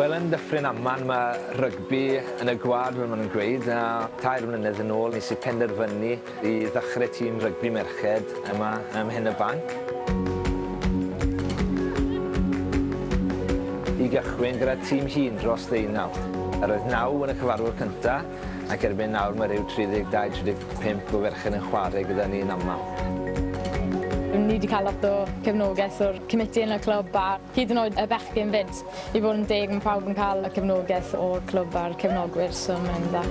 Wel yn Dyffryn Aman ma' rygbi yn y gwlad fel ma' nw'n gweud a tair mlynedd yn ôl nes i penderfynu I ddechrau tîm rygbi merched yma ym Mhen-y-banc. I gychwyn gyda tîm hŷn dros ddeunaw. Yr oedd naw yn y cyfarfod cyntaf ac erbyn nawr mae rhyw 32, 35 o ferched yn chwarae gyda ni yn aml. Ni 'di cael lot o cefnogaeth o'r comiti yn y clwb a Hyd yn oed y bechgyn 'fyd. I fod yn deg, mae pawb yn cael y cefnogaeth o'r clwb a'r cefnogwyr, so mae'n dda.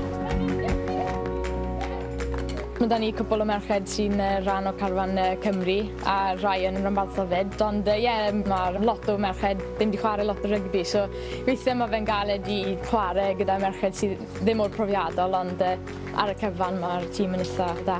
Mae 'da ni cwpwl o merched sy'n rhan o carfan Cymru, a rhai yn ranbarthol 'fyd, ond ie, mae lot o merched ddim 'di chwarae lot o rygbi, so weithiau mae fe'n galed i chwarae gyda merched sydd ddim mor profiadol, ond ar y cyfan mae'r tîm yn eitha' da.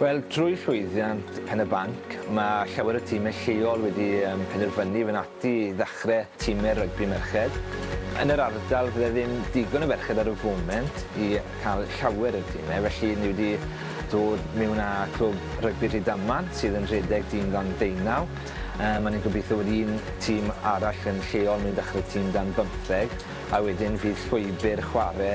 Wel, trwy llwyddiant Pen-y-banc, mae llawer o timau lleol wedi penderfynu i fynd ati i ddechrau timau rygbi merched. Yn yr ardal fydde ddim digon o ferched ar y foment i cael llawer o dimau, felly ni wedi dod mewn â Clwb Rygbi Rhydaman sydd yn rhedeg dyn dan ddeunaw. Maen nhw'n gobeithio bod un tîm arall yn lleol mynd i ddechrau tîm dan bymtheg a wedyn fydd llwybr chwarae